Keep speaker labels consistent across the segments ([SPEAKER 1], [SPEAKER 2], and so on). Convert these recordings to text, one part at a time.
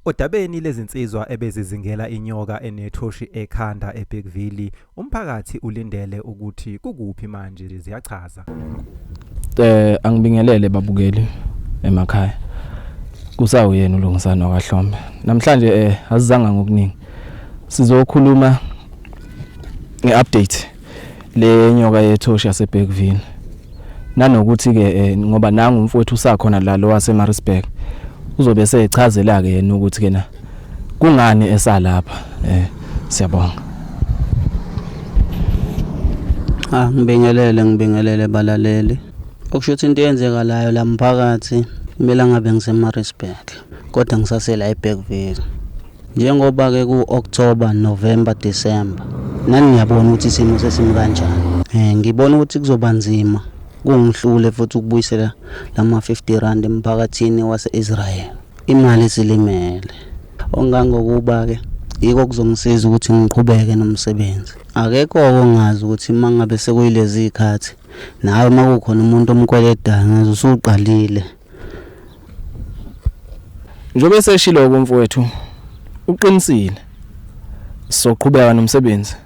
[SPEAKER 1] Odabeni lezinsizwa ebezizingela inyoka enethoshi ekhanda eBergville, umphakathi ulindele ukuthi kukuphi manje ziyachaza. Eh angibingelele
[SPEAKER 2] babukeli emakhaya. Kusawuyena uLungisani wakaHlombe. Namhlanje eh azizanga ngokuningi. Sizokhuluma ngeupdate le nyoka yethoshi yaseBergville nanokuthi ke eh, ngoba nangu umfowethu usakhona la lo waseMaritzburg uzobe esechazela ke yena ukuthi kena kungani esalapha eh siyabonga
[SPEAKER 3] Ah ngibingelele ngibingelele balaleli okusho ukuthi into eyenzekalayo la mphakathi kumele ngabe ngiseMaritzburg kodwa ngisasela eBergville Njengoba ke ku October, November, December nani niyabona ukuthi isimo sesimi kanjani. Eh ngibona ukuthi kuzoba nzima kungihlule futhi ukubuyisela lama 50 rand emphakathini wase-Israel. Imali silimele. Ongangokuba ke yiko kuzongisiza ukuthi ngiqhubeke nomsebenzi. Akekho ongazi ukuthi uma ngabe sekuyilezi zikhathi nawe uma kukhona umuntu omkweledayo ngaze usuqalile.
[SPEAKER 2] Njobe eseshilo kumfowethu uqinisile soqhubeka nomsebenzi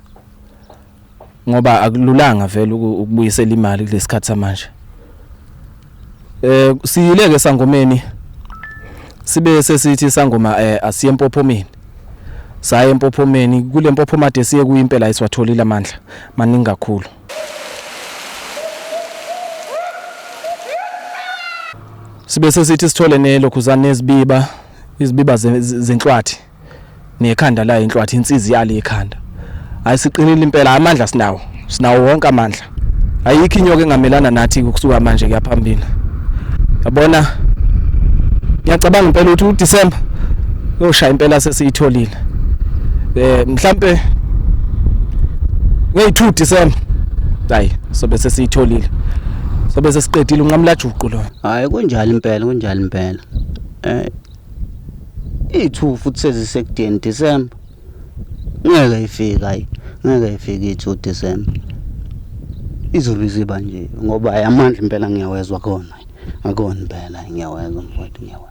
[SPEAKER 2] ngoba akululanga vele ukubuyisela imali kulesikhathi samanje eh siyileke sangomeni sibe sesithi sangoma eh asiye empophomeni saye empophomeni kule mpophomade siye kuyimpela isiwatholile amandla maningi kakhulu sibe sesithi sithole nelokhuzane nezibiba izibiba zenhlwathi nekhanda layo inhlwathi insizi yalo ikhanda hayi siqinile impela amandla sinawo sinawo wonke amandla ayikho inyoka engamelana nathi ukusuka manje kuyaphambili yabona ngiyacabanga impela ukuthi uDecember yoshaya impela sesiyitholile eh mhlambe ngey2 December hayi sobe sesiyitholile sobe sesiqedile unqamlajuqu lo hayi kunjalo impela
[SPEAKER 3] kunjalo impela eh i2 futhi sezisekudeni December Ngeke ifike ayi ngeke ifike i-two December. Izulu iziba nje ngoba ayi amandla impela ngiyawezwa akhona akhona impela ngiyawezwa mfwethu ngiyawezwa.